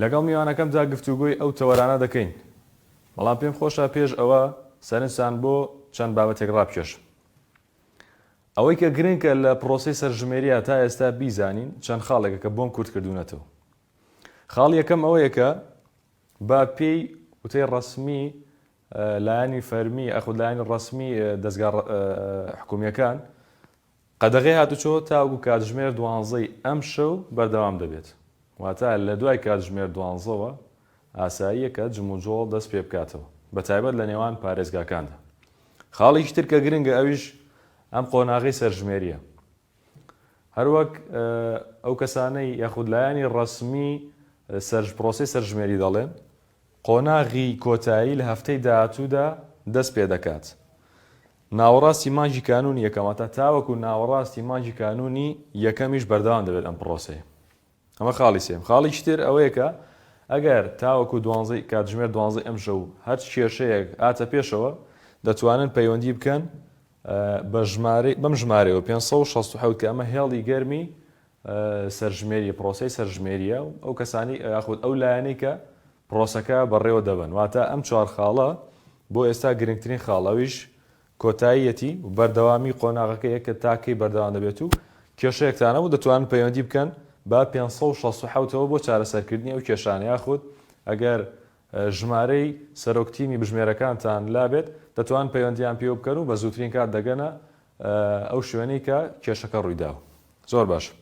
لەگەڵ میوانەکەمدا گفتوگۆی ئەو تەوەرانە دەکەین، بەڵام پێم خۆشە پێش ئەوە سەرنجتان بۆ چەند بابەتێک ڕابکێشم. ئەوەی کە گرنکە لە پڕۆسەی سەرژمێرییە تا ئێستا بیزانین چەند خاڵێکە کە بۆم کورت کردوونەتەوە. خاڵی یەکەم ئەوەیە کە بە پێی وتەی ڕەسمی لایەنی فەرمی یاخود لایەنی ڕەسمی دەزگا حکوومییەکان، قەدەغەی هاتوچۆ تاوەکو کاتژمێر دوانزەی ئەمشەو بەردەوام دەبێت، واتە لە دوای کاتژمێر دوانزەوە ئاساییە کە جموجۆڵ دەست پێبکاتەوە، بەتایبەت لە نێوان پارێزگاکاندا. خاڵێکی تر کە گرنگە ئەویش ئەم قۆناغەی سەرژمێرییە. هەروەک ئەو کەسانەی یاخود لایەنی ڕەسمی سەر پرۆسەی سەرژمێری دەڵێن، قۆناغی کۆتایی لە هەفتەی داهاتوودا دەست پێدەکات. ناوەڕاستی مانگی کانوونی یەکەم واتە تاوەکو ناوەڕاستی مانگی کانوونی یەکەمیش بەردەوام دەبێت ئەم پڕۆسەیە. ئەمە خاڵی سێیەم. خاڵێکی تر ئەوەیە کە ئەگەر تاوەکو دوانزە ی کاتژمێر دوانزە ی ئەمشەو هەر کێشەیەک هاتە پێشەوە دەتوانن پەیوەندی بکەن بە ژمارەی بەم ژمارەیەوە پێنج سەد و شەست و حەوت کە ئەمە هێڵی گەرمی سەرژمێری پرۆسەی سەرژمێرییە و ئەو کەسانەی یاخود ئەو لایەنەی کە پرۆسەکە بەڕێوە دەبەن. واتە ئەم چوار خاڵە بۆ ئێستا گرنگترین خاڵ ئەویش کۆتاییەتی و بەردەوامی قۆناغەکەیە کە تا کەی بەردەوام دەبێت و کێشەیەکتان نەبوو دەتوانن پەیوەندی بکەن بە پێنج سەد و شەست و حەوت ەوە بۆ چارەسەرکردنی ئەو کێشانە یاخود ئەگەر ژمارەی سەرۆک تیمی بژمێرەکانتان لابێت دەتوانن پەیوەندیان پێوە بکەن و بە زووترین کات دەگەنە ئەو شوێنەی کە کێشەکە ڕوویداوە زۆر باشە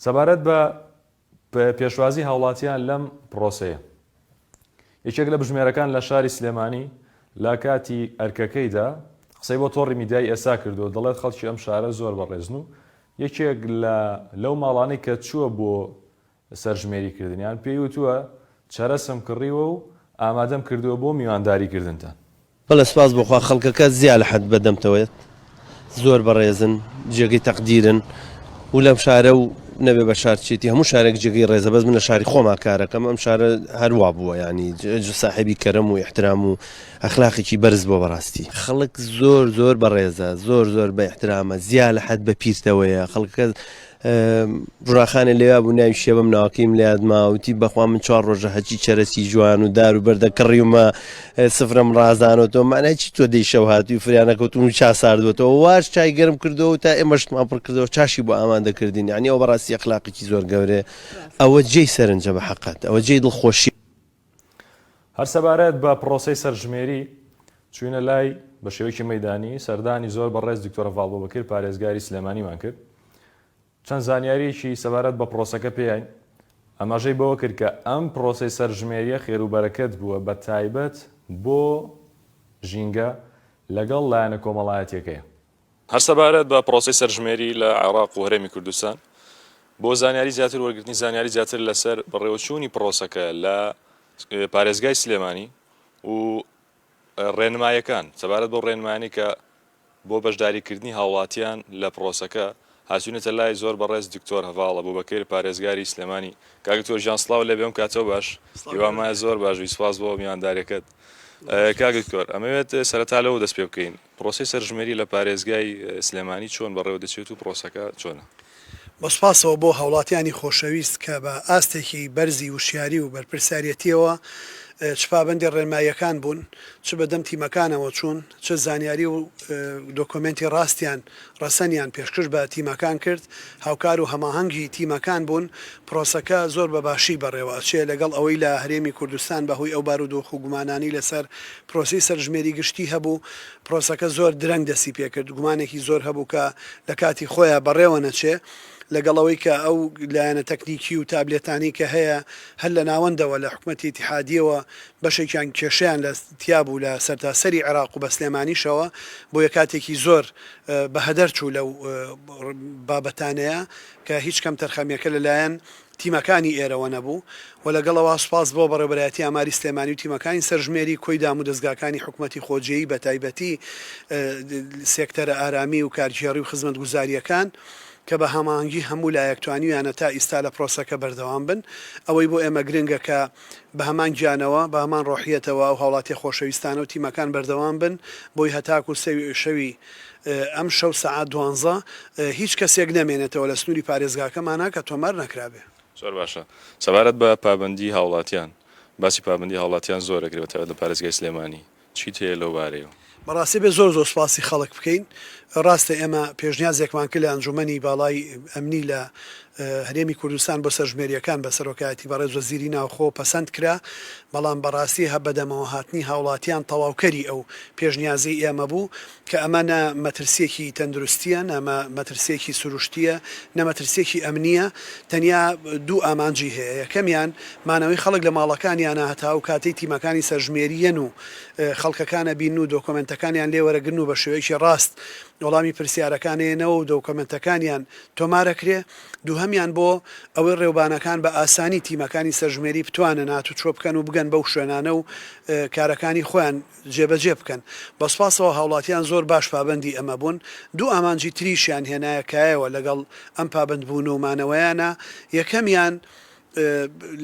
سەبارەت بە پێشوازی هاوڵاتیان لەم پرۆسەیە یەکێک لە بژمێرەکان لە شاری سلێمانی لە کاتی ئەرکەکەیدا قسەی بۆ تۆڕی میدیای ئێسا کردو دەڵێت خەڵکی ئەم شارە زۆر بەڕێزن و یەکێک لە لەو ماڵانەی کە چووە بۆ سەرژمێری کردنیان، پێی وتووە، چەرەسم کڕیوە و ئامادەم کردووە بۆ میوانداری کردنتان. بەڵێ سوپاس بۆ خوا خەڵکەکە زیا لە حەد بەدەمتەوەیەت زۆر بەڕێزن جێگەی تەقدیرن و لەم شارە و نەبێ بە شار چێتی هەموو شارێک جێگەی ڕێزە بەس من لە شاری خۆما کارەکەم ئەم شارە هەر وا بووە یانی جە ساحێبی کەرەم و ئیحترام و ئەخلاقێکی بەرز بووە بەڕاستی خەڵک زۆر زۆر بەڕێزە زۆر زۆر بە ئیحترامە زیا لە حەد بە پیرتەوەیە خەڵکەکە ژوراخانێ لەوێا بوو ناوی شێبەم ناوەکەیم لەیاد ماوتی بەخوا من چوار ڕۆژە هەچی چەرەسی جوان و دار و بەردە کڕیومە سفرم ڕازانەوە تۆ مانای چی تۆ دەی شەو هاتوی فریانەکەوتون و چا ساردوەتەوە واش چای گەرم کردەوە تا ئێمەشتمان پڕ کردەوە چاشی بۆ ئامان دەکردین عنی ئەو بەڕاستی ئەخلاقیی زۆر گەورێ ئەوە جێی سەرنجە بە حقت ئەوە جێی دڵخۆشی هەر سەبارەت بە پڕۆسەی سەرژمێری، چووینە لای، بە شێوەیەکی مەیدانی، سەردانی زۆر بەڕێز دکتۆرە ڤاڵبۆ بەکر پارێزگاری سلێمانیمان کرد، چەند زانیارییەکی سەبارەت بە پڕۆسەکە پێیاین، ئاماژەی بەوە کرد کە ئەم پڕۆسەی سەرژمێرییە خێروبەرەکەت بووە بە تایبەت بۆ ژینگە لەگەڵ لایەنە کۆمەڵایەتییەکەی. هەر سەبارەت بە پرۆسەی سەرژمێری لە عێراق و هەرێمی کوردستان، بۆ زانیاری زیاتر وەرگرتنی زانیاری زیاتر لەسەر بەڕێوەچوونی پرۆسەکە لە پارێزگای سلێمانی و ڕێنمایەکان سەبارەت بەو ڕێنمایانەی کە بۆ بەشداریکردنی هاوڵاتیان لە پرۆسەکە هاتوونەتە لای زۆر بەڕێز دکتۆر هەڤاڵ ئەبوبەکر پارێزگاری سلێمانی کاک دکتۆر گیان سڵاو لێبێ ئەم کاتەو باش هیوام وایە زۆر باش بی سپاس بۆ میوانداریەکەت کاک دکتۆر ئەمەوێت سەرەتا لەوە دەست پێ بکەین پرۆسەی سەرژمێری لە پارێزگای سلێمانی چۆن بەڕێوە دەچێت و پرۆسەکە چۆنە؟ بە سوپاسەوە بۆ هاوڵاتیانی خۆشەویست کە بە ئاستێکی بەرزی وشیاری و بەرپرسیارەتیەوە چ پابەندی ڕێنماییەکان بوون، چ بەدەم تیمەکانەوە چوون، چ زانیاری و دۆکۆمێنتی ڕاستیان ڕەسەنیان پێشکش بە تیمەکان کرد، هاوکار و هەماهەنگ هی تیمەکان بوون، پرۆسەکە زۆر بە باشی بەڕێوە ئەچێ، لەگەڵ ئەوەی لە هەرێمی کوردستان بە هۆی ئەو بارودۆخ و گومانانەی لە سەر پرۆسەی سەرژمێری گشتی هەبوو، پرۆسەکە زۆر درەنگ دەستی پێ کرد، گومانێکی زۆر هەبوو کە لە کاتی خۆیا بەڕێوە نەچێ، لەگەڵ ئەوەی کە ئەو لایەنە تەکنیکی و تابلێتانەی کە هەیە هەر لە ناوەندەوە لە حکومەتی ئیتیحادییەوە بەشێکیان کێشەیان لە تیابوو لە سەرتاسەری عێراق و بە سلێمانیشەوە بۆیە کاتێکی زۆر بە هەدەر چوو لەو بابەتانەیا کە هیچ کەم تەرخەمیەکە لە لایەن تیمەکانی ئێرەوە نەبوو و لەگەڵ ئەوا سوپاس بۆ بەڕێوبەرایەتی ئاماری سلێمانی و تیمەکانی سەرژمێری کۆی دامو دەزگاکانی حکومەتی خۆجێی بە تایبەتی سێکتەرە ئارامی و کارگێڕی و خزمەت گوزاریەکان کە بە هەماهەنگی هەموو لایەک توانیویانە تا ئیستا لە پرۆسەکە بەردەوام بن ئەوەی بۆ ئێمە گرنگە کە بە هەمان گیانەوە، بە هەمان ڕۆحیەتەوە ئەو هاوڵاتیە خۆشەویستانە و تیمەکان بەردەوام بن بۆی هەتاکو سەوی شەوی ئەمشەو سەعات دوانزە هیچ کەسێک نەمێنێتەوە لە سنوری پارێزگاکەمانا کە تۆمار نەکرابێ. زۆر باشە. سەبارەت بە پابەندی هاوڵاتیان، باسی پابەندی هاوڵاتیان زۆر ئەکرێ بە تایبەت لە پارێزگای سلێمانی. چیت هەیە لەو بارەیەوە؟ بەڕاستی ئەبێت زۆر زۆر سوپاسی خەڵک بکەین، ڕاستە ئێمە پێشنیازێکمان کرد لە ئەنجوومەنی باڵای ئەمنی لە هەرێمی کوردستان بۆ سەرژمێرییەکان بە سەرۆکایەتی بەڕێز وەزیری ناوخۆ پەسەند کرا، بەڵام بەڕاستی بەدەمەوە هاتنی هاوڵاتیان تەواوکەری ئەو پێشنیازەی ئێمە بوو، کە ئەمە نە مەترسییەکی تەندروستییە، نە مەترسییەکی سروشتییە، نە مەترسییەکی ئەمنییە، تەنیا دوو ئامانجی هەیە، یەکەمیان مانەوەی خەڵک لە ماڵەکانیانە هەتا ئەو کاتەی تیمەکانی سەرژمێرییەن و خەڵکەکان ئەبینن و دۆکۆمێنتەکانیان لێ وەرەگرن و بە شێوەیەکی ڕاست وەڵامی پرسیارەکان ئەیەنەوە و دۆکۆمێنتەکانیان تۆمار ئەکرێ، دووهەمیان بۆ ئەوەی ڕێوبانەکان بە ئاسانی تیمەکانی سەرژمێری بتوانن هاتوچۆ بکەن و بگەن بەو شوێنانە و کارەکانی خۆیان جێبەجێ بکەن. بە سوپاسەوە هاوڵاتیان زۆر باش پابەندی ئەمە بوون. دوو ئامانجی تریشیان هێنایە کایەوە لەگەڵ ئەم پابەندبوون و مانەوەیانە، یەکەمیان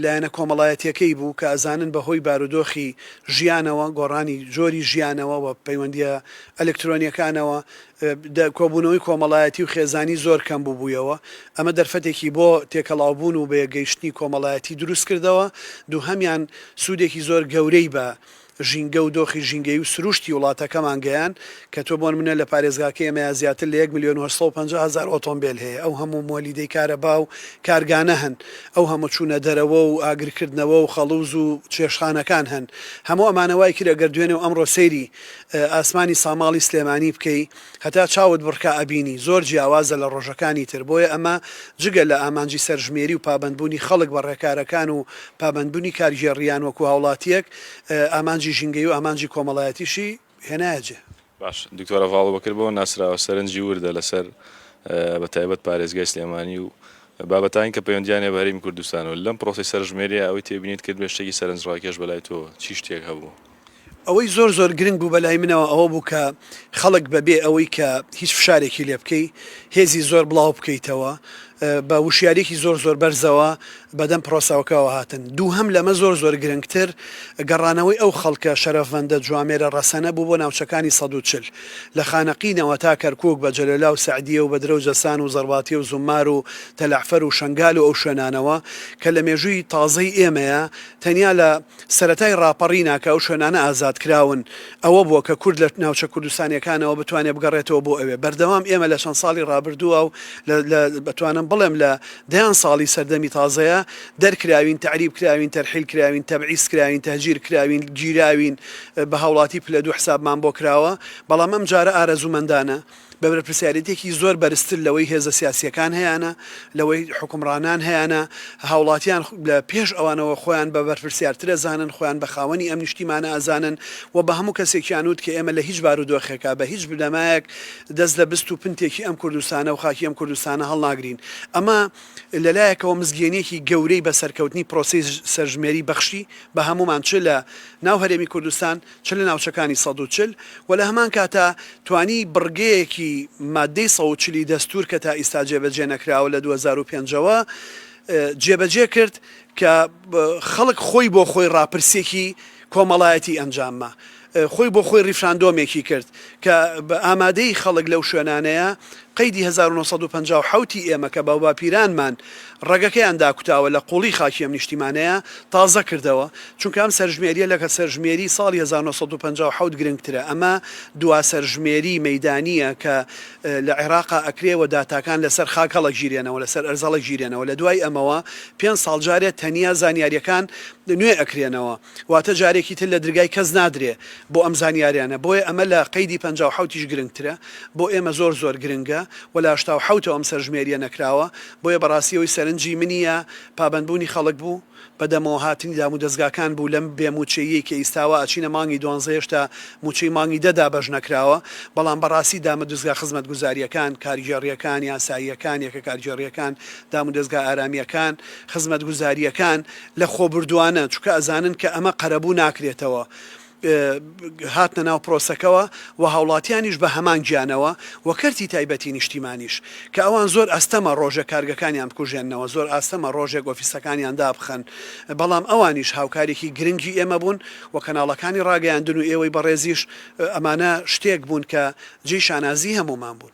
لایەنە کۆمەڵایەتیەکەی بوو کە ئەزانن بە هۆی بارودۆخی ژیانەوە، گۆڕانی جۆری ژیانەوە و پەیوەندییە ئەلکترۆنیەکانەوە کۆبوونەوەی کۆمەڵایەتی و خێزانی زۆر کەم ببوویەوە، ئەمە دەرفەتێکی بۆ تێکەڵاوبوون و بەیەکگەیشتنی کۆمەڵایەتی دروست کردەوە، دووهەمیان سوودێکی زۆر گەورەی بە ژینگە و دۆخی ژینگەیی و سرووشتی وڵاتەکەمان گەیاند، کە تۆ بۆ نموونە لە پارێزگاکەی ئێمەیا زیاتر لە یەک ملیۆن و هەشت سەد و پەنجا هەزار ئۆتۆمبێل هەیە، ئەو هەموو مۆلیدەی کارەبا و کارگانە هەن، ئەو هەموو چوونە دەرەوە و ئاگرکردنەوە و خەڵووز و چێشتخانەکان هەن، هەموو ئەمانە وای کرد ئەگەر دوێنێ و ئەمڕۆ سەیری ئاسمانی ساماڵی سلێمانی بکەی هەتا چاوت بڕکا ئەبینی، زۆر جیاوازە لە ڕۆژەکانی تر، بۆیە ئەمە جگە لە ئامانجی سەرژمێری و پابەندبوونی خەڵک بە ڕێکارەکان و پابەندبوونی کارگێڕییان وەکوو هاوڵاتییەک، ئامانجی ژینگەیی و ئامانجی کۆمەڵایەتیشی هێنایە جێ. باش دکتۆر ئەڤاڵ بەکر بەوە ناسراوە سەرنجی وردە لەسەر بە تایبەت پارێزگای سلێمانی و بابەتانی کە پەیوەندیان هەیە بە هەرێمی کوردستانەوە لەم پرۆسەی سەرژمێریە ئەوەی تێبینیت کردبێت شتێکی سەرنجڕاکێش بەلای تۆ چی شتێک هەبوو؟ ئەوەی زۆر زۆر گرنگ بوو بەلای منەوە ئەوە بوو کە خەڵک بەبێ ئەوەی کە هیچ فشارێکی لێ بکەی هێزی زۆر بڵاو بکەیتەوە بە وشیاریەکی زۆر زۆر بەرزەوە بەدەم پرۆسەوەکەوە هاتن. دووهەم لەمە زۆر زۆر گرنگتر گەڕانەوەی ئەو خەڵکە شەرەفمەندە جوامێرە ڕەسەنە بوو بۆ ناوچەکانی سەد و چل لە خانەقینەوە تا کەرکوک بە جەلۆلا و سەعدیە و بەدرە و جەسان و زەڕباتی و زومار و تەلەعفەر و شەنگال و ئەو شوێنانەوە کە لە مێژووی تازەی ئێمەیە تەنیا لە سەرەتای ڕاپەڕینە کە ئەو شوێنانە ئازاد کراون ئەوە بووە کە کورد لە ناوچە کوردستانیەکانەوە بتوانێت بگەڕێتەوە بۆ ئەوێ بەردەوام ئێمە لە چەند ساڵی ڕابردووە و لە بتوانم بڵێم لە دەیان ساڵی سەردەمی تازەیە دەرکراوین تەعریب کراوین تەرحیل کراوین تەبعیس کراوین تەهجیر کراوین گیراوین بە هاوڵاتی پلە دوو حسابمان بۆ کراوە بەڵام ئەمجارە ئارەزوومەندانە بە بەرپرسیارێتیەکی زۆر بەرزتر لەوەی هێزە سیاسیەکان هەیانە، لەوەی حوکمڕانان هەیانە، هاوڵاتیان لە پێش ئەوانەوە خۆیان بە بەرپرسیارتر ئەزانن، خۆیان بە خاوەنی ئەم نیشتیمانە ئەزانن و بە هەموو کەسێکیان وت کە ئێمە لە هیچ بارودۆخێکا بە هیچ بنەمایەک دەست لە بست و پنتێکی ئەم کوردستانە و خاکی ئەم کوردستانە هەڵناگرین. ئەمە لە لایەکەوە مزگێنیەکی گەورەی بە سەرکەوتنی پرۆسەی سەرژمێری بەخشی بە هەموومان چ لە ناو هەرێمی کوردستان، چ لە ناوچەکانی سەد و چل و لە هەمان کاتا توانی بڕگەیەکی ماددەی سەد و چل ی دەستوور کە تا ئیستا جێبەجێ نەکراوە لە دوو هەزار و پێنج ەوە جێبەجێ کرد کە خەڵک خۆی بۆ خۆی ڕاپرسێکی کۆمەڵایەتی ئەنجامما خۆی بۆ خۆی ڕیفراندۆمێکی کرد کە ئامادەی خەڵک لەو شوێنانەیە قەیدی هەزار و نۆ سەد و پەنجا و حەوت ی ئێمە کە باوباپیرانمان ڕەگەکەیان داکوتاوە لە قوڵی خاکی ئەم نیشتیمانەیە تازە کردەوە، چونکە ئەم سەرژمێریە لە سەرژمێری ساڵی هەزار و نۆ سەد و پەنجا و حەوت گرنگترە، ئەمە دوا سەرژمێری مەیدانیە کە لە عێراقا ئەکرێ و داتاکان لەسەر خاک هەڵەگیرێنەوە لەسەر ئەرز هەڵەگیرێنەوە، لە دوای ئەمەوە پێنج ساڵ جارێ تەنیا زانیاریەکان نوێ ئەکرێنەوە. واتە جارێکی تر لە درگای کەس نادرێ بۆ ئەم زانیاریانە بۆیە ئەمە لە قەیدی پەنجا و حەوت یش گرنگترە بۆ ئێمە زۆر زۆر گرنگە وە لە هەشتا و حەوت ەوە ئەم سەرژمێریە نەکراوە بۆیە بەڕاستی ئەوەی سەرنجی منی یا پابەندبوونی خەڵک بوو بە دەمەوە هاتنی دامودەزگاکان بوو لەم بێ مووچەییەی کە ئیستاوە ئەچینە مانگی دوانزە هێشتا مووچەی مانگی دە دابەش نەکراوە بەڵام بەڕاستی دامەدزگا خزمەتگوزاریەکان کارگێڕیەکان یاساییەکان یەکە کارگێڕیەکان دامودەزگا ئارامیەکان خزمەتگوزاریەکان لە خۆبوردوانە، چونکە ئەزانن کە ئەمە قەرەبوو ناکرێتەوە، هاتنە ناو پرۆسەکەوە و هاوڵاتیانیش بە هەمان گیانەوە و کەرتی تایبەتی نیشتیمانیش، کە ئەوان زۆر ئەستەمە ڕۆژێک کارگەکانیان بکوژێننەوە، زۆر ئاستەمە ڕۆژێک ئۆفیسەکانیان دابخەن، بەڵام ئەوانیش هاوکارێکی گرنگی ئێمە بوون و کەناڵەکانی ڕاگەیاندن و ئێوەی بەڕێزیش، ئەمانە شتێک بوون کە جێی شانازی هەموومان بوون.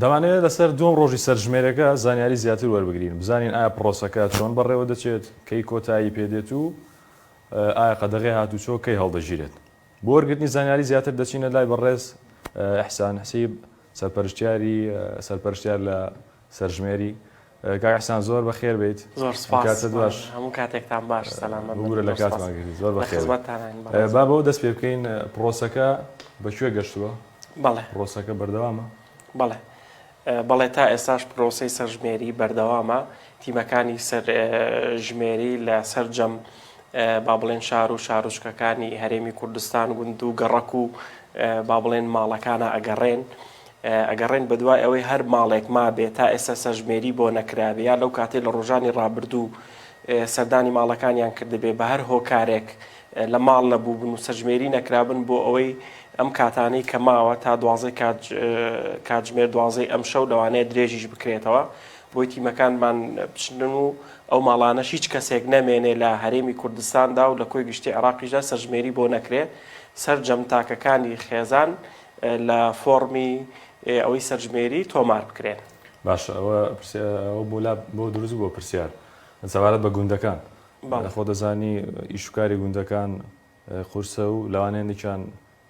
دەمانەوێت لەسەر دووەم ڕۆژی سەرژمێرەکە زانیاری زیاتر وەربگرین، بزانین ئایا پڕۆسەکە چۆن بەڕێوەدەچێت، کەی کۆتایی پێدێت و ئایا قەدەغەی هاتووچۆ کەی هەڵدەگیرێت. بۆ وەرگرتنی زانیاری زیاتر دەچینە لای بەڕێز ئیحسان حسیب، سەرپەرشتیاری سەرپەرشتیار لە سەرژمێری کاک احسان زۆر بەخێر بیت. زۆر سوپاس بەڕێز هەموو کاتێکتان باش سەلامەت بن بگورە لە کاتمان گرتی زۆر بەخێر بیت. لە خزمەتتانین بەڕێزم. با بەوە دەست پێ بکەین پڕۆسەکە بە کوێ گەشتووە؟ بەڵێ. پڕۆسەکە بەردەوامە؟ بەڵێ بەڵێ تا ئێستاش پڕۆسەی سەرژمێری بەردەوامە تیمەکانی سەر ژمێری لە سەرجەم با بڵێن شار و شارۆچکەکانی هەرێمی کوردستان گوند و گەڕەک و با بڵێن ماڵەکانە ئەگەڕێن ئەگەڕێن بەدوای ئەوەی هەر ماڵێک مابێ تا ئێستا سەرژمێری بۆ نەکرابێ یا لەو کاتەی لە ڕۆژانی ڕابردوو سەردانی ماڵەکانیان کردبێ بە هەر هۆکارێک لە ماڵ نەبووبن و سەرژمێری نەکرابن بۆ ئەوەی ئەم کاتانەی کە ماوە تا دوازەی کاتژمێر دوازەی ئەم شەو لەوانەیە درێژیش بکرێتەوە بۆی تیمەکانمان بچن و ئەو ماڵانەش هیچ کەسێک نەمێنێ لە هەرێمی کوردستاندا و لە کۆی گشتی عراقیشدا سەرژمێری بۆ نەکرێ سەرجەم تاکەکانی خێزان لە فۆڕمی ئەوەی سەرژمێری تۆمار بکرێن. باشە ئەوە پرسیار ئەوە بۆ لا بۆ دروست بووە پرسیار سەبارەت بە گوندەکان بەڵێ. خۆ دەزانی ئیش و کاری گوندەکان قورسە و لەوانەیە هەندێکیان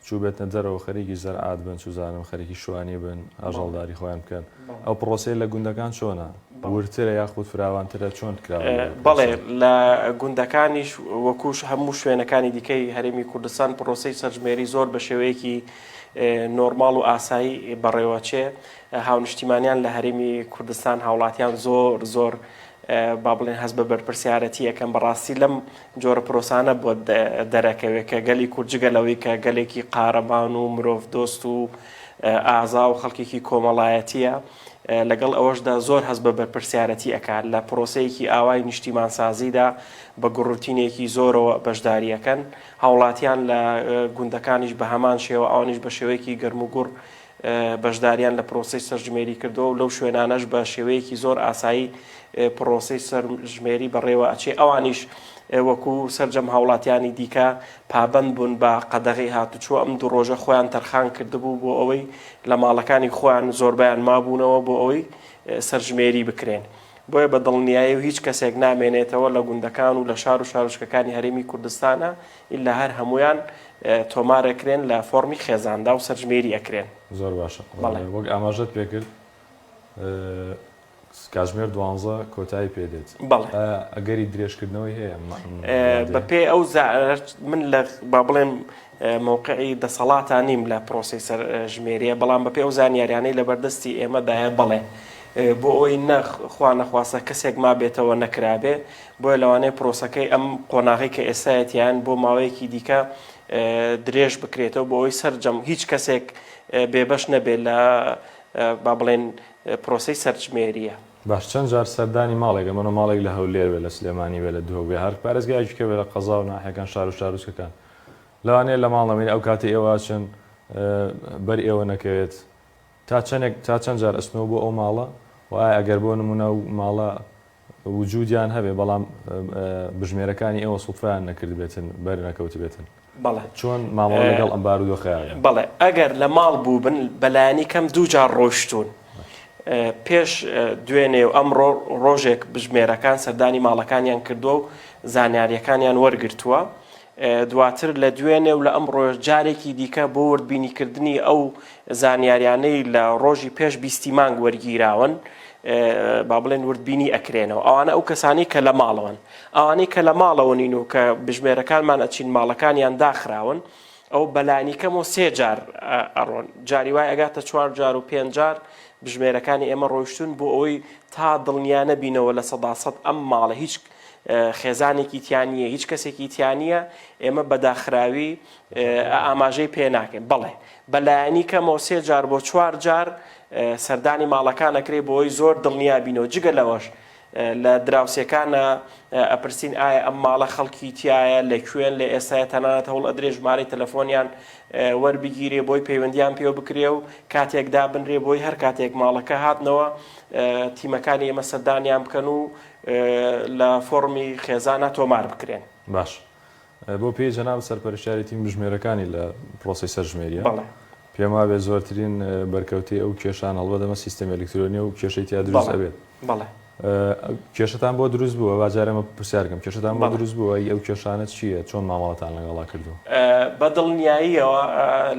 چووبێتنە دەرەوە خەریکی زەرعات بن چوزانم خەریکی شوانی بن ئاژەڵداری خۆیان بکەن ئەو پڕۆسەیە لە گوندەکان چۆنە؟ وردترە یاخود فراوانترە؟ چۆن کراوە لەوێ پڕۆسەکە؟ بەڵێ لە گوندەکانیش وەکو هەموو شوێنەکانی دیکەی هەرێمی کوردستان پڕۆسەی سەرژمێری زۆر بە شێوەیەکی نۆرماڵ و ئاسایی بەڕێوەچێ هاونشتیمانیان لە هەرێمی کوردستان هاوڵاتیان زۆر زۆر با بڵێن هەست بە بەرپرسیارەتی ئەکەن بەڕاستی لەم جۆرە پرۆسانە بۆت دەرەکەوێ کە گەلی کورد جگە لەوەی کە گەلێکی قارەمان و مرۆڤ دۆست و ئازا و خەڵکێکی کۆمەڵایەتییە، لەگەڵ ئەوەشدا زۆر هەست بە بەرپرسیارەتی ئەکات، لە پرۆسەیەکی ئاوای نیشتیمانسازیدا بە گوڕرتینێکی زۆرەوە بەشداری ئەکەن، هاوڵاتیان لە گوندەکانیش بە هەمان شێوە، ئەوانیش بە شێوەیەکی گەرموگوڕ بەشداریان لە پرۆسەی سەرژمێری کردووە و لەو شوێنانەش بە شێوەیەکی زۆر ئاسایی پرۆسەی سەرژمێری بەڕێوە ئەچێ، ئەوانیش وەکو سەرجەم هاوڵاتیانی دیکە پابەند بوون بە قەدەغەی هاتوچۆ، ئەم دوو ڕۆژە خۆیان تەرخان کردبوو بۆ ئەوەی لە ماڵەکانی خۆیان زۆربەیان مابوونەوە بۆ ئەوەی سەرژمێری بکرێن، بۆیە بە دڵنیایی و هیچ کەسێک نامێنێتەوە لە گوندەکان و لە شار و شارۆچکەکانی هەرێمی کوردستانا ئیلا هەر هەموویان تۆمار ئەکرێن لە فۆڕمی خێزاندا و سەرژمێری ئەکرێن. زۆر باشە، بەڵێ وەک ئاماژەت پێکرد، کاتژمێر دوانزە کۆتایی پێ دێت. بەڵێ. ئایا ئەگەری درێژکردنەوەی هەیە ئەم وادەیە؟ بەپێی ئەو زانیارییەی من لە با بڵێم مەوقعی دەسەڵاتە نیم لە پرۆسەی سەرژمێرییە، بەڵام بەپێی ئەو زانیارییانەی لەبەردەستی ئێمەدایە بەڵێ. بۆ ئەوەی نە خوا نەخواستە کەسێک مابێتەوە نەکرابێ، بۆیە لەوانەیە پرۆسەکەی ئەم قۆناغەی کە ئێستایەتی یان بۆ ماوەیەکی دیکە درێژ بکرێتەوە بۆ ئەوەی سەرجەم هیچ کەسێک بێبەش نەبێت لە با بڵێن پرۆسەی سەرژمێرییە. باش چەند جار سەردانی ماڵێک ئەمەنۆ ماڵێک لە هەولێر بێت لە سلێمانی بێت لە دهۆک بێت هەر پارێزگایەکی کە بێت لە قەزا و ناحیەکان شار و شارۆچکەکان لەوانەیە لە ماڵ نەمێنێت ئەو کاتەی ئێوە ئەچن بەر ئێوە نەکەوێت تا چەنێک تا چەند جار ئەچنەوە بۆ ئەو ماڵە و ئایا ئەگەر بۆ نموونە ئەو ماڵە وجودیان هەبێت بەڵام بژمێرەکانی ئێوە سوفرایان نەکردبێتن بەر نەکەوتبێتن بەڵێ چۆن مامەڵە لەگەڵ ئەم بارودۆخەیان کرد؟ بەڵێ ئەگەر لە ماڵ بووبن بە لایەنی کەم دوو جار ڕۆیشتوون پێش دوێنێ و ئەمڕۆ ڕۆژێک بژمێرەکان سەردانی ماڵەکانیان کردووە و زانیارییەکانیان وەرگرتووە دواتر لە دوێنێ و لە ئەمڕۆش جارێکی دیکە بۆ وردبینیکردنی ئەو زانیاریانەی لە ڕۆژی پێش بیستی مانگ وەرگیراون با بڵێن وردبینی ئەکرێنەوە ئەوانە ئەو کەسانی کە لە ماڵەوەن ئەوانەی کە لە ماڵەوە نین و کە بژمێرەکانمان ئەچین ماڵەکانیان داخراون ئەو بەلانیکەمەوە سێ جار ئەڕۆن جاری وای ئەگاتە چوار جار و پێنج جار بژمێرەکانی ئێمە ڕۆیشتون بۆ ئەوەی تا دڵنیانە بینەوە لە سەداسەد ئەم ماڵە هیچ خێزانێکی تیا نییە هیچ کەسێکی تیا نییە ئێمە بەداخراوی ئاماژەی پێ ناکەین بەڵێ بەلایەنی کەمەوە سێ جار بۆ چوار جار سەردانی ماڵەکانەکرێ بۆی زۆر دڵنیا بینەوە جگە لەوەش لە دراوسێکانە ئەپرسین ئایا ئەم ماڵە خەڵکی تایە لە کوێن لە ئێستای تەنانەت هەوڵ ئەدرێ ژمارەی تەلەفۆنیان وەربگیرێ بۆی پەیوەندیان پێ بکرێ و کاتێکدا بنرێ بۆی هەر کاتێک ماڵەکە هاتنەوە تیمەکانی ئێمە سەردانیان بکەن و لە فۆڕمی خێزانا تۆمار بکرێن. باش بۆ پێی جەناب سەرپەرشتیاری تیم بژمێرەکانی لە پرۆسەی سەرژمێریە؟ بەڵێ. پێم وابێت زۆرترین بەرکەوتەی ئەو کێشانە هەڵبەت ئەمە سیستەمی ئەلیکترۆنیە و کێشەی تیا دروست ئەبێت. بەڵێ. کێشەتان بۆ دروست بووە؟ با جارێ ئەمە پرسیار کەم کێشەتان بۆ دروست بووە؟ ئەی ئەو کێشانە چییە؟ چۆن مامەڵەتان لەگەڵا کردووە؟ بە دڵنیاییەوە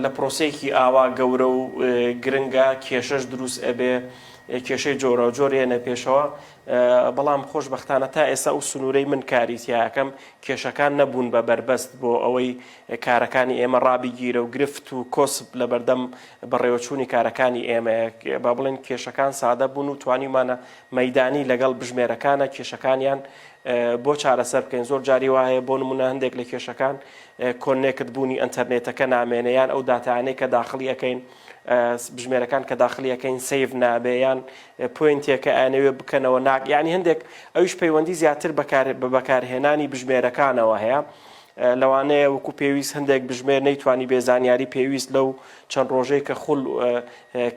لە پرۆسەیەکی ئاوا گەورە و گرنگا کێشەش دروست ئەبێ، کێشەی جۆراوجۆر ئەیەنە پێشەوە، بەڵام خۆشبەختانە تا ئێستا ئەو سنوورەی من کاری تیا ئەکەم کێشەکان نەبوون بە بەربەست بۆ ئەوەی کارەکانی ئێمە ڕابگیرە و گرفت و کۆسپ لە بەردەم بەڕێوەچوونی کارەکانی ئێمە با بڵێن کێشەکان سادە بوون و توانیمانە مەدانی لەگەڵ بژمێرەکانە کێشەکانیان بۆ چارەسەر بکەین زۆر جاری وایە بۆ نمونە هەندێک لە کێشەکان کۆنێکت بوونی ئەتەرنێتەکە نامێنەیان ئەو دااتانەی کە داخلیەکەین بژمێرەکان کە داخلی یەکەین سەیڤ نابێ یان پوینتێکە ئەیانەوێ بکەنەوە ناک یعنی هەندێک ئەوش پەیوەندی زیاتر بەکار بە بەکارهێنانی بژمێرەکانەوە هەیە لەوانەیە وەکو پێویست هەندێک بژمێر نەیتوانی بێ زانیاری پێویست لەو چەند ڕۆژەی کە خول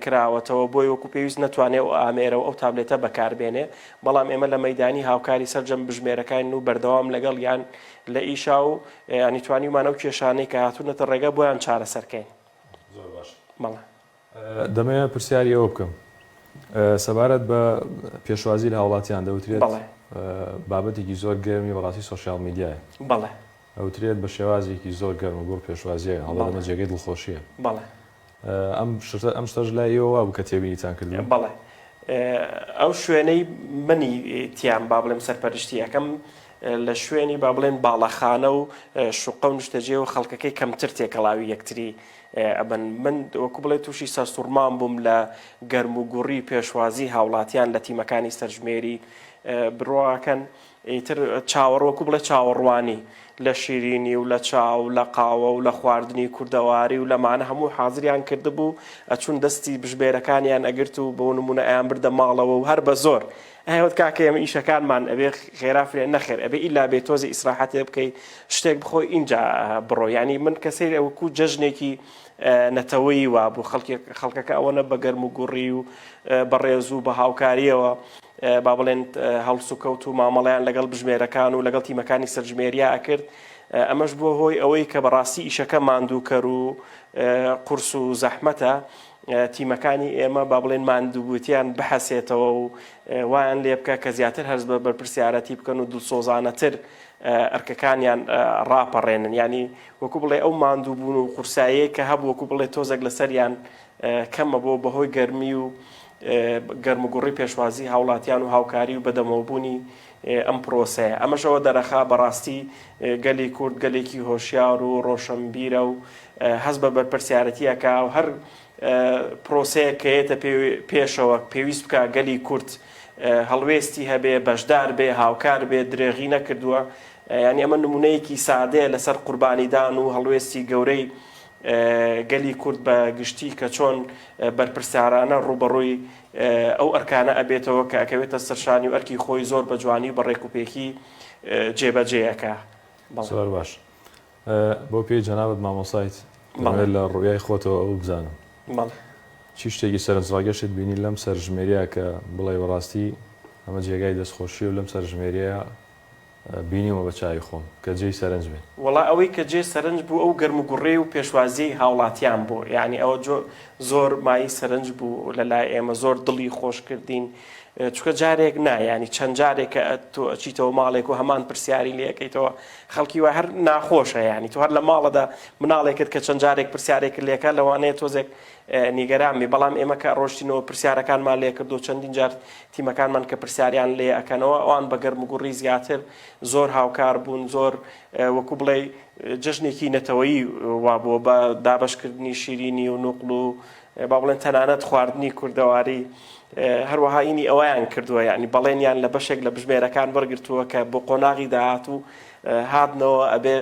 کراوەتەوە بۆی وەکو پێویست نەتوانێ و ئامێرە و ئەو تابلێتە بەکاربێنێ بەڵام ئێمە لە مەدانی هاوکاری سەررجەم بژمێرەکان و بەردەوام لەگەڵ یان لە ئیشا و ینیتوانیمانە و کێشانەی کە هاتوونەتە ڕێگە بۆیان چارەسەرکەین زۆر باش بەڵێ. دەمەوێت پرسیاری ئەوە بکەم سەبارەت بە پێشوازی لە هاوڵاتیان دەوترێت بەڵێ بابەتێکی زۆر گەرمی بەڕاستی سۆشیال میدیایە بەڵێ ئەوترێت بە شێوازێکی زۆر گەرم و گوڵ پێشوازیە هەڵە بەڵێ. لەمە جێگەی دڵخۆشیە بەڵێ ئەم شتە ئەم شتەش لای ئێوە وابوو کە تێبینیتان کردووە بەڵێ ئەو شوێنەی منی تیام با بڵێم سەرپەرشتی ئەکەم لە شوێنی با بڵێن باڵەخانە و شوقە و نیشتەجێ و خەڵکەکەی کەمتر تێکەڵاوی یەکتری ئەبن من وەکو بڵێ تووشی سەرسوڕمان بووم لە گەرم و گوڕی پێشوازی هاوڵاتیان لە تیمەکانی سەرژمێری بڕواکەن ئیتر چاوەڕ وەکو بڵێ چاوەڕوانی لە شیرینی و لە چاو لە قاوە و لە خواردنی کوردەواری و لەمانە هەموو حازریان کردبوو ئەچون دەستی بژبێرەکانیان ئەگرت و بۆ نمونە ئەیان بردە ماڵەوە و هەر بە زۆر ئەی وت کاکە ئێمە ئیشەکانمان ئەبێ خێرا فرێ نەخێر ئەبێ ئیلا بێ تۆزی ئیسراحەتێ بکەی شتێک بخۆی ئینجا بڕۆ یعنی من کە سەیرێ وەکوو جەژنێکی نەتەوەیی وابوو خەڵکی خەڵکەکە ئەوەنە بە گەرم و گوڕی و بەڕێز و بە هاوکاریەوە با بڵێن هەڵسوکەوت و مامەڵیان لەگەڵ بژمێرەکان و لەگەڵ تیمەکانی سەرژمێریا ئەکرد ئەمەش بووە هۆی ئەوەی کە بەڕاستی ئیشەکە ماندووکەر و قورس و زەحمەتە تیمەکانی ئێمە با بڵێن ماندووبووتیان بحەسێتەوە و وایان لێ بکە کە زیاتر هەرز بە بەرپرسیارەتی بکەن و دڵسۆزانەتر ئەرکەکانیان ڕاپەڕێنن ینی وەکو بڵێ ئەو ماندووبوون و قورساییە کە هەبوو وەکو بڵێ تۆزێک لەسەریان کەمە بۆ بەهۆی گەرمی و گەرمگوڕی پێشوازی هاوڵاتیان و هاوکاری و بەدەمەوەبوونی ئەم پرۆسەیە. ئەمەش ئەوە دەرەخا بەڕاستی گەلی کورد گەلێکی هۆشیار و ڕۆشەنبیرە و هەست بە بەرپرسیارەتی ئەکا و هەر پرۆسەیەک کە یێتە پێشەوە پێویست بکا گەلی کورد هەڵوێستی هەبێ، بەشدار بێ، هاوکار بێ، درێغی نەکردووە. یانی ئەمە نموونەیەکی سادەیە لەسەر قوربانیدان و هەڵوێستی گەورەی گەلی کورد بە گشتی کە چۆن بەرپرسیارانە ڕووبەڕووی ئەو ئەرکانە ئەبێتەوە کە ئەکەوێتە سەرشانی و ئەرکی خۆی زۆر بە جوانی و بە ڕێکوپێکی جێ بە جێ ئەکا. زۆر باش بۆ پێی جەنابت مامۆسایت دەمەوێت لە ڕویای خۆتەوە ئەوە بزانم چی شتێکی سەرنجڕاگەشت بینی لەم سەرژمێریە کە بڵێ بەڕاستی ئەمە جێگای دەستخۆشیە و لەم سەرژمێریە بینیومە بە چاوی خۆم کە جێی سەرنج بێت. وەڵا ئەوەی کە جێ سەرنج بوو ئەو گەرم و گوڕی و پێشوازیەی هاوڵاتیان بوو یانی ئەوە جۆ زۆر مایەی سەرنج بوو لە لای ئێمە زۆر دڵی خۆش کردین چونکە جارێک نا یانی چەند جارێکە تۆ ئەچیتەوە ماڵێک و هەمان پرسیاری لێ ئەکەیتەوە خەڵکی وای هەر ناخۆشە یانی تۆ هەر لە ماڵەدا مناڵێکت کە چەند جارێک پرسیارێک لێکە لەوانەیە تۆزێک نیگەران بی بەڵام ئێمە کە ڕۆشتینەوە پرسیارەکانمان لێ کردو چەندین جار تیمەکانمان کە پرسیاریان لێ ئەکەنەوە ئەوان بە گەرموگوڕی زیاتر زۆر هاوکار بوون زۆر وەکو بڵێ جەژنێکی نەتەوەیی وابووە بە دابەشکردنی شیرینی و نوقل و با بڵێن تەنانەت خواردنی کوردەواری هەروەها ئینی ئەویان کردووە یعنی بەڵێنیان لە بەشێک لە بژمێرەکان بەرگرتووە کە بۆ قۆناغی داهات و هاتنەوە ئەبێ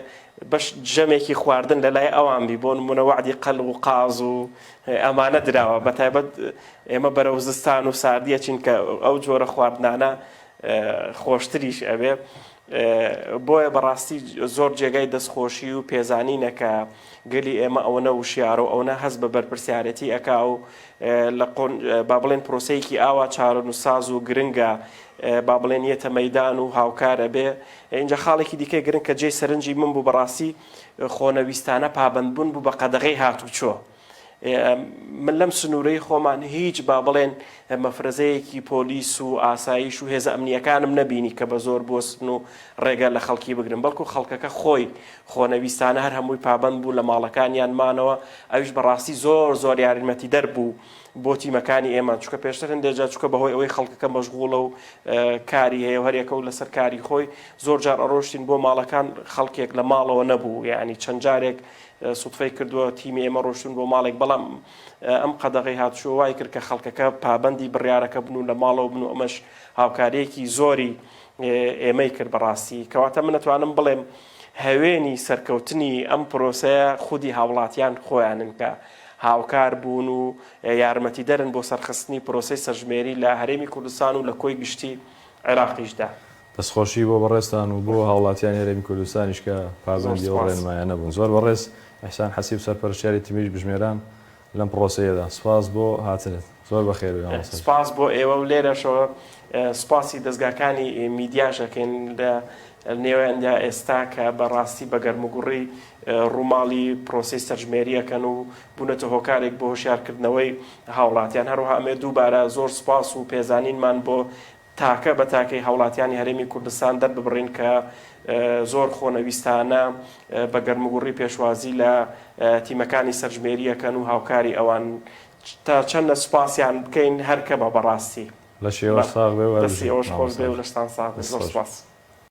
بەش جەمێکی خواردن لە لای ئەوان بی بۆ منەوەعدی قەل و قاز و ئەمانە دراوە بە تایبەت ئێمە بەرەو زستان و ساردی ئەچین کە ئەو جۆرە خواردنانە خۆشتریش ئەبێ بۆیە بەڕاستی زۆر جێگای دەستخۆشی و پێزانینە کە گەلی ئێمە ئەوەنە وشیارە و ئەوەنە هەز بە بەرپرسیارەتی ئەکا و لە با بڵێن پرۆسەیەکی ئاوا چارۆن و ساز و گرنگە با بڵێن یەتە مەدان و هاوکار ئەبێ اینجا خاڵێکی دیکە گرنگ کە جێ سەرنجی من بوو بەڕاستی خۆنەویستانە پابندبوون بوو بە قەدەغی هاتوچۆ من لەم سنوورەی خۆمان هیچ با بڵێن مەفرەزەیەکی پۆلیس و ئاسایش و هێزە ئەمنیەکانم نەبینی کە بە زۆر بۆستن و ڕێگە لە خەڵکی بگرن بەڵکو خەڵکەکە خۆی خۆنەویستانە هەر هەمووی پابند بوو لە ماڵەکانیان مانەوە ئەوش بەڕاستی زۆر زۆر یاریمەتی دەربوو بۆ تیمەکانی ئێمە چکە پێشتر هەندێجا چکە بەهۆی ئەوەی خەڵکەکە مەشغوڵە و کاری هەیە هەرێکە و لەسەر کاری خۆی زۆر جار ئەڕۆشتین بۆ ماڵەکان خەڵکێک لە ماڵەوە نەبوو یعنی چەند جارێک سوتفەی کردووە تیمی ئێمە ڕۆشتون بۆ ماڵێک بەڵام ئەم قەدەغەی هاتشوە وای کرد کە خەڵکەکە پابەندی بڕارەکە بن و لە ماڵەوە بن و ئەمەش هاوکاریەکی زۆری ئێمەی کرد بەڕاستی کەواتە منەتوانم بڵێم هەوێنی سەرکەوتنی ئەم پرۆسەیە خودی هاوڵاتیان خۆیانن کە هاوکار بوون و یارمەتی دەرن بۆ سەرخستنی پرۆسی سەرژمێری لە هەرێمی کوردستان و لە کۆی گشتی عێراقیشدا. دەستخۆشی بۆ بەڕێزتان و بۆ هاوڵاتیانی هەرێمی کوردستانیش کە زۆر پابەندی ئەو سوپاس. ڕێنمایانە بوون. زۆر بەڕێز ئیحسان حەسیب سەرپەرشتیاری تیمی بژمێران لەم پڕۆسەیەدا. سوپاس بۆ هاتنت. زۆر بەخێربێی مامۆستا گیان. سوپاس بۆ ئێوە و لێرەشەوە سوپاسی دەزگاکانی میدیاش ئەکەین لە نێویاندا ئێستا کە بە ڕاستی بە گەرموگوڕی ڕووماڵی پڕۆسەی سەرژمێری ئەکەن و بوونەتە هۆکارێک بۆ هۆشیارکردنەوەی هاوڵاتیان. هەروەها ئەمەوێت دووبارە زۆر سوپاس و پێزانینمان بۆ تاکە بە تاکەی هاوڵاتیانی هەرێمی کوردستان دەرببڕین کە زۆر خۆنەویستانە بە گەرموگوڕی پێشوازی لە تیمەکانی سەرژمێری ئەکەن و هاوکاری ئەوان تا چەندە سوپاسیان بکەین هەر کەمە بەڕاستی. لەشی ئێوەش ساغ بێ و هەربژین مامۆستای گیان. دەستی ئێوەش خۆش بێ و لەشتان ساغ بێ. زۆر سوپاس.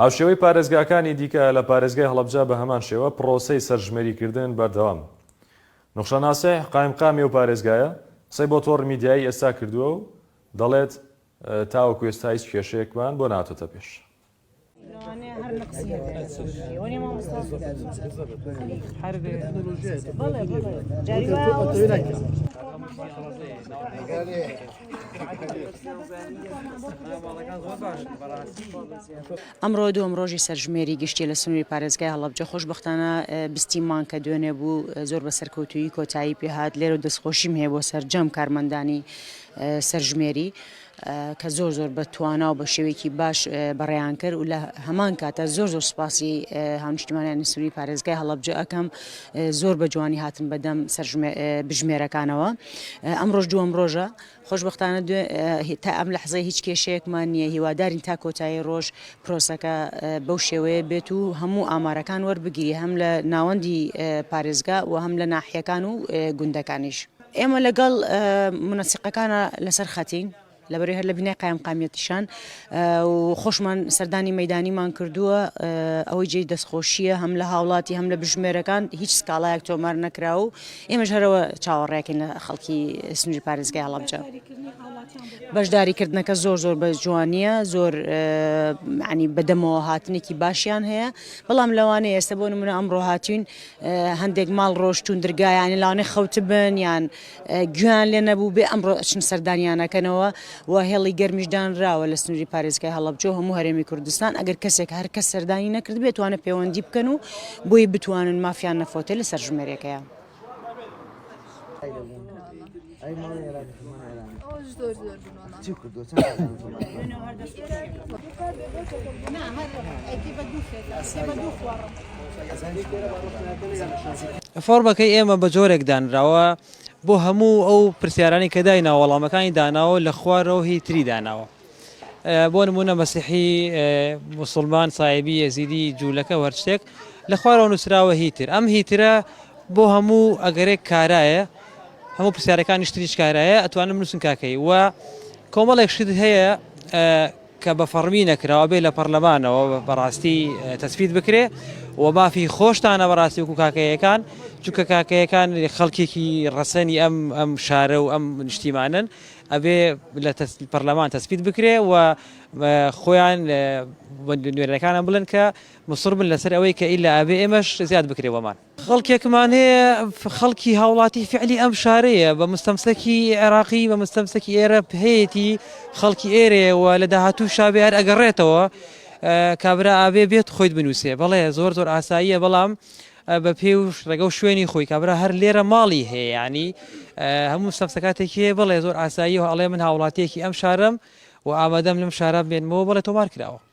هاوشێوەی پارێزگاکانی دیکە، لە پارێزگای هەڵەبجە بە هەمان شێوە پڕۆسەی سەرژمێریکردن بەردەوامە. نوخشە ناسیح، قایمقامی ئەو پارێزگایە، قسەی بۆ تۆڕی میدیایی ئێستا کردووە و دەڵێت، تاوەکو ئێستا هیچ کێشەیەکمان بۆ نەهاتۆتە پێش. ئەمڕۆ دووەم ڕۆژی سەرژمێری گشتیە لە سنووری پارێزگای هەڵەبجە خۆشببختانە بیستیمان کە دوێنێ بوو زۆر بە سەرکەوتویی کۆتایی پێهات لێرە و دەستخۆشیم هەیە بۆ سەررجەم کارمەندانی سەرژمێری. کە زۆر زۆر بە توانا و بە شێوەیەکی باش بەڕێیان کرد و لە هەمان کاتە زۆر زۆر سپاسی هاونیشتمانیانی سووری پارێزگای هەڵبجە ئەەکەم زۆر بە جوانی هاتن بەدەم بژمێرەکانەوە. ئەمڕۆش دووەم ڕۆژە، خۆشبەختانە تا ئەم لەحزەی هیچ کێشەیەکمان نییە، هیوادارین تا کۆتایی ڕۆژ پرۆسەکە بەو شێوەیە بێت و هەموو ئامارەکان وەربگیرێ هەم لە ناوەندی پارێزگا و هەم لە ناحیەکان و گوندەکانیش. ئێمە لەگەڵ مونەسیقەکانا لەسەر خەتین، لەبەرەی هەر لە بینای قایمقامیەتیشان و خۆشمان سەردانی مەدانیمان کردووە ئەوەی جێی دەستخۆشیە هەم لە هاوڵاتی هەم لە بژمێرەکان هیچ سکاڵایەک تۆمار نەکرا و ئێمەش هەرەوە چاوەڕێکین لە خەڵکی سنووری پارێزگای هەڵەبجە بەشداریکردنەکە زۆر زۆر بە جوانیە زۆر عنی بەدەمەوە هاتنێکی باشیان هەیە بەڵام لەوانێ ئێستا بۆ نمونە ئەمڕۆ هاتوین هەندێک ماڵ ڕۆشتون درگایانی لاانێ خەوتبن یان گوێیان لێ نەبووبێ ئەمڕۆ ئەچن سەردانیانەکەنەوە و هێڵی گەرمیش دانراوە لە سنووری پارێزگای هەڵەبجە و هەموو هەرێمی کوردستان ئەگەر کەسێک هەر کەس سەردانی نەکرد بێتوانە پەیوەندی بکەن و بۆی بتوانن مافیان نەفۆتێ لەسەر ژمێرێکەیە. چی کردو چەند کەسان زوڵم کردوون؟ فۆڕمەکەی ئێمە بە جۆرێک دانراوە بۆ هەموو ئەو پرسیارانەی کە دایناوە وەڵامەکانی داناوە لە خوارەوە هی تری داناوە ئە، بۆ نموونە مەسیحی ئە، موسڵمان سایبی یەزیدی جوولەکە و هەر شتێک لە خوارەوە نووسراوە هی تر ئەم هی ترە بۆ هەموو ئەگەرێک کارایە هەموو پرسیارەکانی شتریش کارایە ئەتوانن بنووسن کاکەی و کۆمەڵێک شت هەیە کە بە فەڕمی نەکراوە بێ لە پەرلەمانەوە بەڕاستی تەسفیت بکرێ و مافی خۆشتانە بەڕاستی وکو کاکەیەکان چونکە کاکەیەکان خەڵکێکی ڕەسەنی ئەم ئەم شارە و ئەم نیشتیمانن ئەبێ لە پەرلەمان تەسفیت بکرێ و خۆیان نوێنەکانە بڵن کە مسر بن لەسەر ئەوەی کە ئیلا ئەبێ ئێمەش زیاد بکرێ بۆمان خەڵکێکمان هەیە خەڵکی هاوڵاتی فعلی ئەم شارەیە بە مستەمسەکی عێراقی بە مستەمسەکی ئێرە هەیەی خەڵکی ئێرەیەوە لە داهاتوو شابێ هەر ئەگەڕێتەوە کابرا ئابێ بێت خۆیت بنووسێ بەڵێ زۆر زۆر ئاساییە بەڵام بە پێ و ڕێگە و شوێنی خۆی کابرا هەر لێرە ماڵی هەیە ینی هەموو سەفسەکاتێکی بڵێ زۆر ئاساییەوە ئەڵێ من هاوڵاتیەکی ئەم شارم و ئامادەم لەم شارە بێنمەوە بڵێ تۆمار کراوە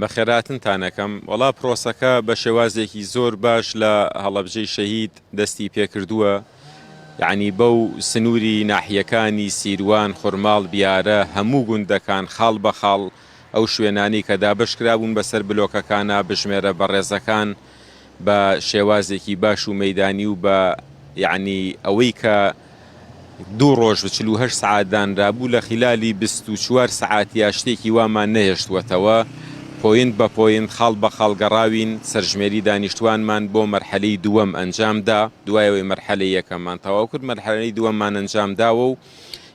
بەخێرهاتنتان ئەکەم، وەڵا پرۆسەکە بە شێوازێکی زۆر باش لە هەڵەبجەی شەهید دەستی پێکردووە، یەعنی بەو سنووری ناحیەکانی سیروان، خورماڵ، بیارە، هەموو گوندەکان خاڵ بە خاڵ ئەو شوێنانەی کە دابەشکرابوون بەسەر بلۆکەکانا بژمێرە بەڕێزەکان، بە شێوازێکی باش و مەیدانی و بە یەعنی ئەوەی کە دوو ڕۆژ و چل و هەشت سەعات دانرابوو لە خیلالی بیست و چوار سەعاتیا شتێکی وامان نەهێشتووەتەوە، پۆینت بە پۆینت، خاڵ بە خاڵ گەڕاوین، سەرژمێری دانیشتووانمان بۆ مەرحەلەی دووەم ئەنجام دا، دوای ئەوەی مەرحەلەی یەکەممان تەواو کرد، مەرحەلەی دووەممان ئەنجام داوە و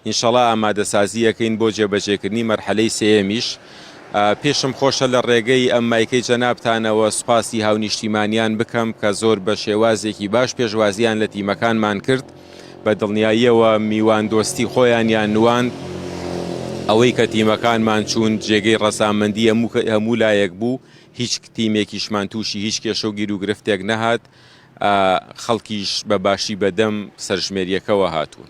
ئینشەڵا ئامادەسازی ئەکەین بۆ جێبەجێکردنی مەرحەلەی سێیەمیش. پێشم خۆشە لە ڕێگەی ئەم مایکەی جەنابتانەوە سوپاسی هاونیشتیمانیان بکەم کە زۆر بە شێوازێکی باش پێشوازیان لە تیمەکانمان کرد، بە دڵنیاییەوە میواندۆستی خۆیانیان نواند، ئەوەی کە تیمەکانمان چوون جێگەی ڕەزامەندی هەموو لایەک بوو، هیچ تیمێکیشمان تووشی هیچ کێشە و گیروگرفتێک نەهات، خەڵکیش بە باشی بەدەم سەرژمێرییەکەوە هاتوون.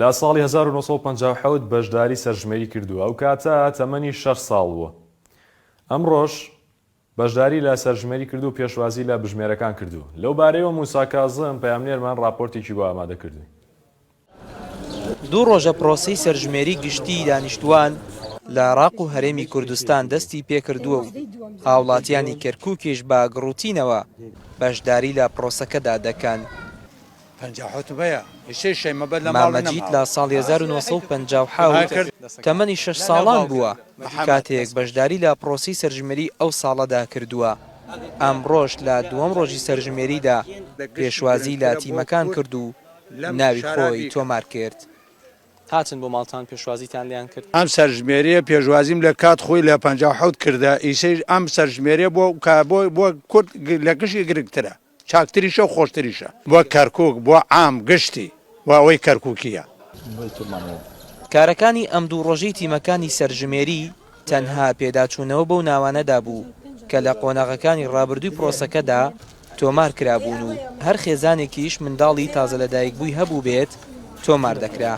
لە ساڵی هەزار و نۆ سەد و پەنجا و حەوت بەشداری سەرژمێری کردووە، ئەو کاتە تەمەنی شەش ساڵ بووە. ئەمڕۆش بەشداری لە سەرژمێری کردوو و پێشوازی لە بژمێرەکان کردووە. لەو بارەیەوە موسا کازم، پەیامنێرمان ڕاپۆرتێکی بۆ ئامادە کردووین. دوو ڕۆژە پرۆسەی سەرژمێری گشتیی دانیشتووان لە عێراق و هەرێمی کوردستان دەستی پێ کردووە و هاوڵاتیانی کەرکووکیش بە گڕوتینەوە بەشداری لە پرۆسەکەدا دەکەن. مامە جیت لە ساڵی هەزار و نۆ سەد و پەنجا و حەوت تەمەنی شەش ساڵان بووە، کاتێک بەشداری لە پرۆسەی سەرژمێریی ئەو ساڵەدا کردووە. ئەمڕۆش لە دووەم رۆژی سەرژمێریدا پێشوازیی لە تیمەکان کرد و ناوی خۆی تۆمار کرد. هاتن بۆ ماڵتان پێشوازیتان لێیان کرد؟ ئەم سەرژمێرییە پێشوازیم لە کات خۆی لە پەنجا و حەوت کردە، ئیسەیش ئەم سەرژمێرییە بۆ کورد لە گشی گرنگترە. چاکتریشە و خۆشتریشە بۆ کەرکوک، بۆ عام گشتی، بۆ ئەوەی کەرکوکییە. کارەکانی ئەم دوو ڕۆژەی تیمەکانی سەرژمێری تەنها پێداچوونەوە بەو ناوانەدا بوو کە لە قۆناغەکانی ڕابردووی پرۆسەکەدا تۆمار کرابوون و هەر خێزانێکیش منداڵی تازەلەدایکبووی هەبووبێت تۆمار دەکرا.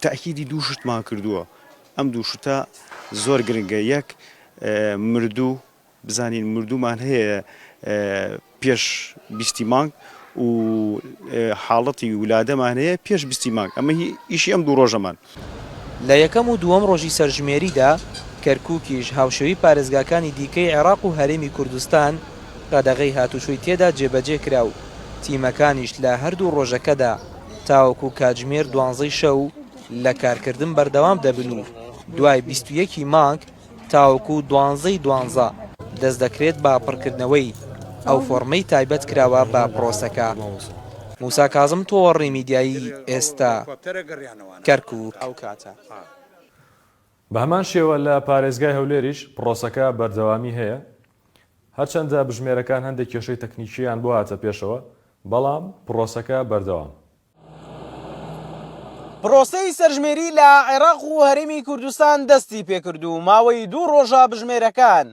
تەئکیدی دوو شتمان کردووە، ئەم دوو شتە زۆر گرنگە، یەک مردوو بزانین مردوومان هەیە پێش بیستی مانگ و حاڵەتی ولادەمان هەیە پێش بیستی مانگ، ئەمە ئیشی ئەم دوو ڕۆژەمان. لە یەکەم و دووەم ڕۆژی سەرژمێریدا، کەرکووکیش هاوشێوەی پارێزگاکانی دیکەی عێراق و هەرێمی کوردستان قەدەغەی هاتووچۆی تێدا جێبەجێ کرا و تیمەکانیش لە هەردوو ڕۆژەکەدا تاوەکو کاتژمێر دوانزەی شەو لە کارکردن بەردەوام دەبن و دوای بیست و یەک ی مانگ تاوەکو دوانزە ی دوانزە دەست دەکرێت بە پڕکردنەوەی ئەو فۆڕمەی تایبەت کراوە بە پڕۆسەکە. موسا کازم تۆوەڕنی میدیایی ئێستا کەرکوک. بەهەمان شێوە لە پارێزگای هەولێریش پڕۆسەکە بەردەوامی هەیە هەرچەندە بژمێرەکان هەندێک کێشەی تەکنیکییان بۆ هاتە پێشەوە بەڵام پڕۆسەکە بەردەوامە. پرۆسەی سەرژمێری لە عێراق و هەرێمی کوردستان دەستی پێکرد و ماوەی دوو ڕۆژە بژمێرەکان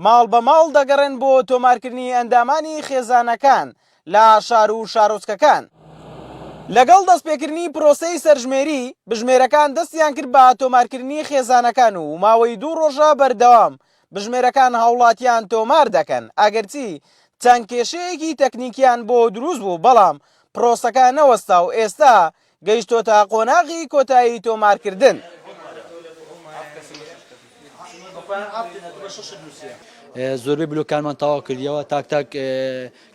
ماڵ بە ماڵ دەگەڕێن بۆ تۆمارکردنی ئەندامانی خێزانەکان لە شار و شارۆچکەکان. لەگەڵ دەستپێکردنی پرۆسەی سەرژمێری، بژمێرەکان دەستیان کرد بە تۆمارکردنی خێزانەکان و ماوەی دوو ڕۆژە بەردەوام بژمێرەکان هاوڵاتیان تۆمار دەکەن ئەگەرچی چەند کێشەیەکی تەکنیکیان بۆ دروست بوو بەڵام پرۆسەکە نەوەستا و ئێستا گەیشتۆتە قۆناغی کۆتایی تۆمارکردن. زۆربەی بلۆکانمان تەواو کردیەوە تاک تاک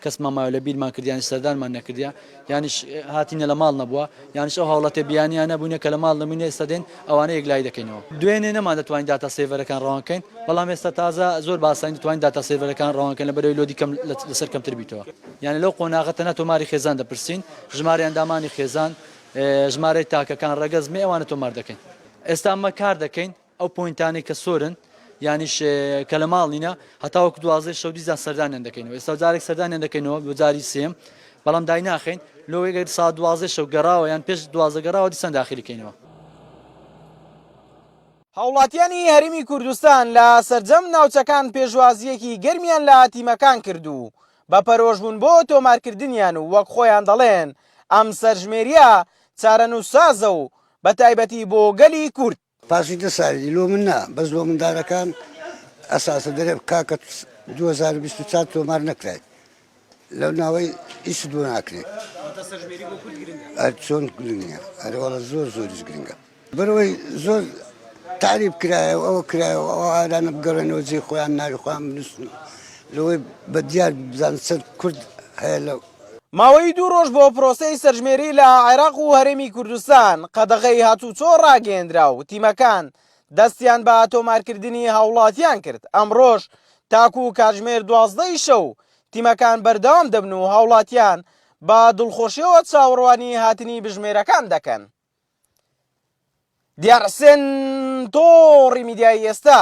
کەسمان مایەوە لە بیرمان کرد یانیش سەردانمان نەکردە یانیش هاتینە لە ماڵ نەبووە یانیش ئەو هاوڵەتێ بیانیان نەبوونە کە لە ماڵ نەبووین ئێستا دێن ئەوانە یەکلایی دەکەینەوە دوێنێ نەمان دەتوانین داتا سێڤەرەکان ڕەوان کەین بەڵام ئێستا تازە زۆر بە ئاسانی دەتوانین داتا سێڤەرەکان ڕەوان کەین لەبەرەوەی لۆدی کەم لەسەر کەمتر بیتەوە یانە لەو قۆناغە تەنها تۆماری خێزان دەپرسین ژمارە ئەندامانی خێزان ژمارەی تاکەکان ڕەگەز مێ ئەوانە تۆمار دەکەین ئێستا ئەمە کار دەکەین ئەو پۆینتانەی کە سۆرن یانیش کە لە ماڵ نینە هەتا وەکو دوازدەی شەو دیزان سەردانیان دەکەینەوە ئێستا جارێک سەردانیان دەکەینەوە بۆ جاری سێم بەڵام دایناخین لۆگەر سا دوازدەی شەو گەڕاوە یان پێش دوازدە گەڕاوە دیسان داخلیکەینەوە هاوڵاتیانی هەرمی کوردستان لە سەرجەم ناوچەکان پێشوازیەکی گەرمیان لە تیمەکان کرد و بە پەرۆشبوون بۆ تۆمارکردنیان و وەک خۆیان دەڵێن ئەم سەرژمێریە چارەنووسسازە و بە تایبەتی بۆ گەلی کورد پاسی دە سالی لۆ من نا بەس لۆ مندارەکان ئەساسە دەرێ کاکە دوو هەزار و بیست و چوار تۆمار نەکرایت لەو ناوەی ئیشت بۆ ناکرێت چۆن گرنگە ئەرەوەڵە زۆر زۆریش گرنگە بەرەوەی زۆر تعریب کرایە و ئەوە کرایە و ئەو ئارانە بگەڕێنەوە جێ خۆیان ناوی خۆیان بنووسن لەوەی بە دیار بزان چەند کورد هەیە لە ماوەی دوو ڕۆژ بۆ پرۆسەی سەرژمێری لە عێراق و هەرێمی کوردستان قەدەغەی هاتووچۆ ڕاگەیەندرا و تیمەکان دەستیان بە تۆمارکردنی هاوڵاتیان کرد، ئەمڕۆش تاکوو کاتژمێر دوازدە ی شەو تیمەکان بەردەوام دەبن و هاوڵاتیان بە دڵخۆشیەوە چاوەڕوانی هاتنی بژمێرەکان دەکەن. دیار حسێن، تۆڕی میدیایی ئێستا،